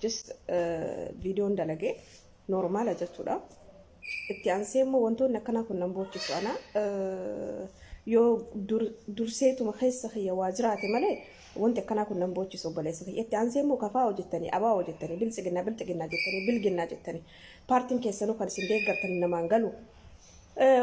just viidiyoon dalage normaala jechuudha. Itti aansee immoo wantoonni akkanaa kun nan boochisu ana yoo durseetuma keessa kiyya waa jiraate malee wanti akkanaa kun nan boochisu obboleessa kiyya. Itti aansee immoo kafaa hojjettanii, abaa hojjettanii, biltsiginnaa, bilxiginnaa jettanii, bilginnaa jettanii paartiin keessanuu kan isin deeggartan namaan galu.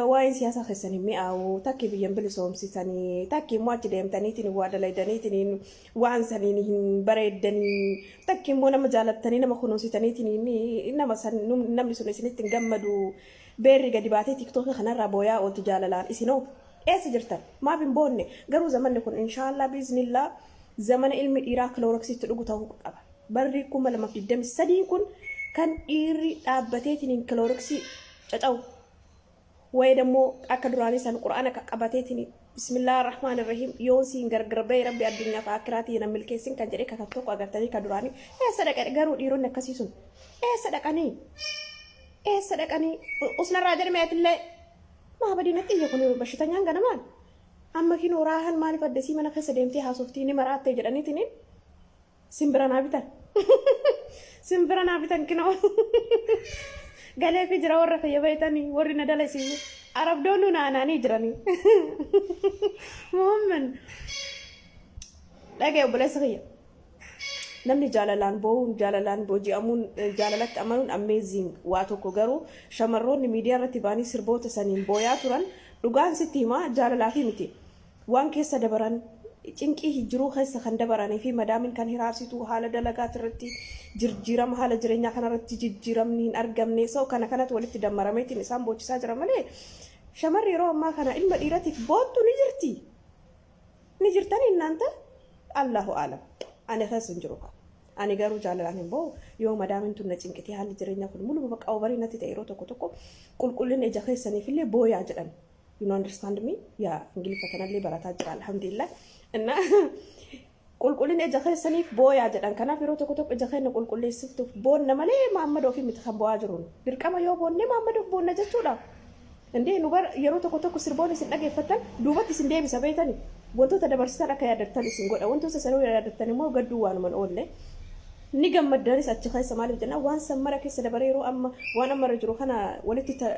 Waa'een siyaasaa keessan hin mi'aawu. Takkii biyyan bilisoomsitanii, takkii immoo achi deemtaniitiin waa dalaydaniitiin waan saniin hin bareeddanii takki immoo nama jaalattanii nama kunuunsitaniitiin nama san namni sun isinitti hin gammadu beerri gadi baatee tiktookii kanarraa booyaa ooltu jaalalaan isinoo eessa jirtan maaf hin boonne garuu zamanni kun inshaallah biiznillaa zamana ilmi dhiiraa kilooroksiitti dhugu ta'uu qaba barri kuma lamaaf digdamii sadiin kun kan dhiirri dhaabbateetiin kilooroksii caca'u Wa'ee dammoo akka duraanii san qur'aana qaqqabateetini bismillah rahmaan irrahim yoon siin gargar ba'e rabbi addunyaa fi akkiraa tiyya nan milkeessin kan jedhee kakatu tokko agartanii ka duraanii eessa dhaqe garuu dhiironni akkasii sun eessa dhaqanii eessa dhaqanii usnarraa jedhame atillee maa badinatti iyya kun bashitanyaan ganamaan amma kinoo raahan maaliif addasii mana keessa deemtee haasoftii ni maraattee jedhaniitiniin Simbira naa bitan. Simbira naa bitan kinoo. Galee fi jira warra kiyya beeytanii warri na dalasiisu. Arabdoonni naanaanii jiranii. Muhammed. Dhagee obboleessa kiyya. Namni jaalalaan boo'uun, jaalalaan booji'amuun, eh, jaalalatti amanuun amazing waa tokko garuu shamarroonni miidiyaa irratti ba'anii sirboota saniin booyaa turan dhugaan sitti himaa jaalalaafi miti. Waan keessa dabaran, cinqii hi jiruu keessa kan dabaranii fi madaamin kan hiraarsituu haala dalagaati irratti jirjiirama haala jireenyaa kana irratti jijjiiramni hin argamne so kana kanatu walitti dammarameetiin isaan boochisaa jira malee shamarri yeroo ammaa kana ilma dhiiratiif boottu ni jirti ni jirtani innaanta allahu aalam ani keessa hin jiru kan ani garuu jaalalaan hin ba'u yoo madaamin tun na cinqitee haalli jireenyaa kun muluma bakka obarii natti ta'e yeroo tokko tokko qulqullina ija keessaniif illee booyaa jedhan you know understand me yaa ingiliffa tanallee barataa jira alhamdulillah inna qulqullina ija keessaniif booyaa jedhan kanaaf yeroo tokko tokko ija keenya qulqulleessiftuuf boonna malee maammada ofii miti kan bo'aa jiruun dirqama yoo boonnee maammada of boonna jechuudha indee nu bara yeroo tokko tokko sirboon isin dhageeffattan duubatti isin deebisa beektani wantoota dabarsitan akka yaadattan isin godha wantoota sanuu yaadattan immoo gadduu waanuman oolle ni gammaddanis achi keessa maaliif jennaan waan san mara keessa dabaree yeroo amma waan amma irra jiru kana walitti ta-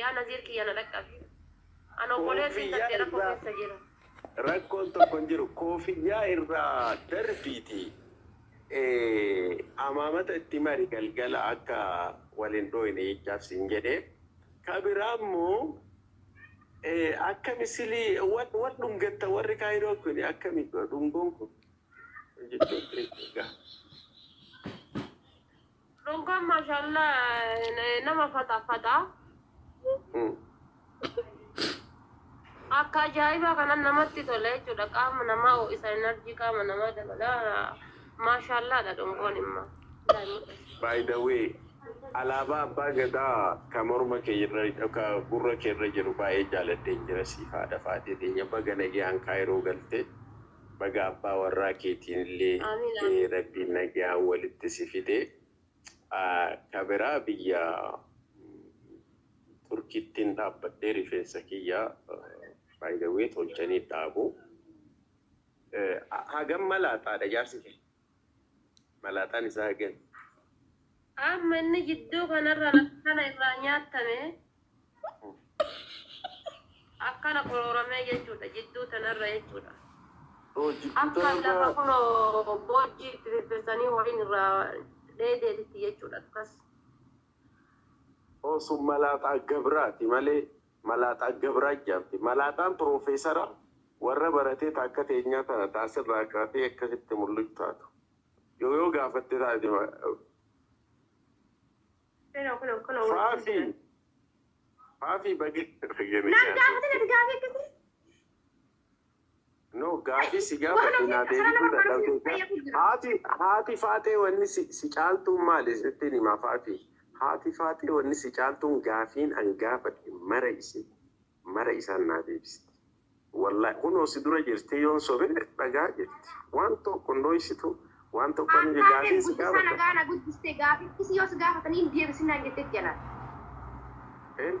Yaa Naziir kiyya na dhaqqabi. An obboleessin Koofiyyaa tantee rakkoo irraa keessa jira. rakkoon tokko hin jiru. Koofiyyaa irraa darbiiti eh, amaamata itti mari galgala akka wal hin dhooyne jechaaf siin jedhe. Ka biraa immoo eh, akka misilii wal wal dhungatta warri kaayiroo kun akkami dhungoon kun jechuun egaa. Ronkoon maashaallah nama faxafaxa. Akka ajaa'ibaa kanan namatti tola jechuudha. Qaama namaa ho'isa, enerjii qaama namaa dabala. Maashaallaadha dhongoon immoo. By the way, alaabaa abbaa gadaa ka morma kee irra ka gurra kee irra jiru baay'ee jaaladheen jira siif haadha faatee teenya baga nagayaan kaayiroo galte. Baga abbaa warraa keetiinillee rabbiin nagayaan walitti si fide. Ka biraa biyya Turkittin dhaabbadhee rifeensa kiyya by the way tolchanii dhaabu. Hagam malaaxaadha jaarsi kee? Malaaxaan isaa hagami? Amma inni jidduu kanarra lafa kana irraa nyaattame akkana qorooramee jechuudha. Jidduu tanarra jechuudha. Oo jidduu Akka lafa tanarraa kunoo boojjii itti firfirsanii horiin irraa dheedeetitti jechuudha. Akkas. oo sun malaaxaa gabraati malee Malaaxaa gabraa ijaarte. Malaaxaan piroofeesara warra baratee ta akka teenyaa tana ta as irraa kaatee akkasitti mulluc taatu. Yoo yoo gaafatte taate. Kunoo kunoo kunoo wajjin Faafii! jiran. Faafii baga Naan gaafatin ati gaafii akkasii. No gaafii si gaafadhe naa deebisuu dadhabdee gaa haati haati faaxee wanni si si caaltuun maali sittiin himaa faati haati faaxee wanni si caaltuun gaafiin an gaafadhe mara isii mara isaan naa deebisti wallahi kunoo si dura jirtii yoon sobe dhagaa jirti waan tokko hin dhooysituu waan tokko An hin taate gaafiin si guddisa gaafadhe nagaa na guddiste gaafii si yoo si gaafatanii hin deebisin naan jettetti anaan. hin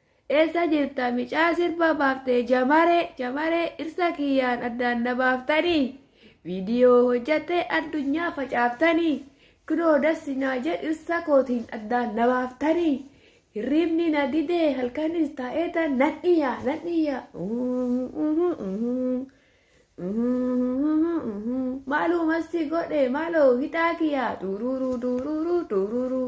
Eessa jirta micaa sirba baaftee jamare jamare dhirsa kiyyaan addaan na baaftanii video hojjattee addunyaa facaaftanii kunoo dassi naa jedhe dhirsa kootiin addaan na baaftanii hirriibni na didee halkanis taa'eetan nan iyya nan iyya maaluu masti godhe maaloo hidhaa kiyyaa duururuu duururuu duururuu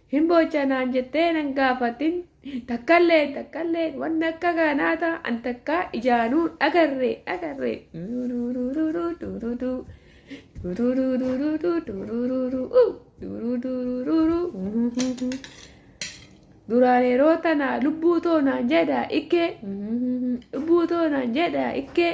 Hin boocha naan jettee nan gaafatin takkalleen takkalleen wanni akka kanaa ta an takkaa ijaanuu dhagarre dhagarre. Duraan yeroo tana lubbuu too naan jedha ikkee lubbuu too naan jedha ikkee.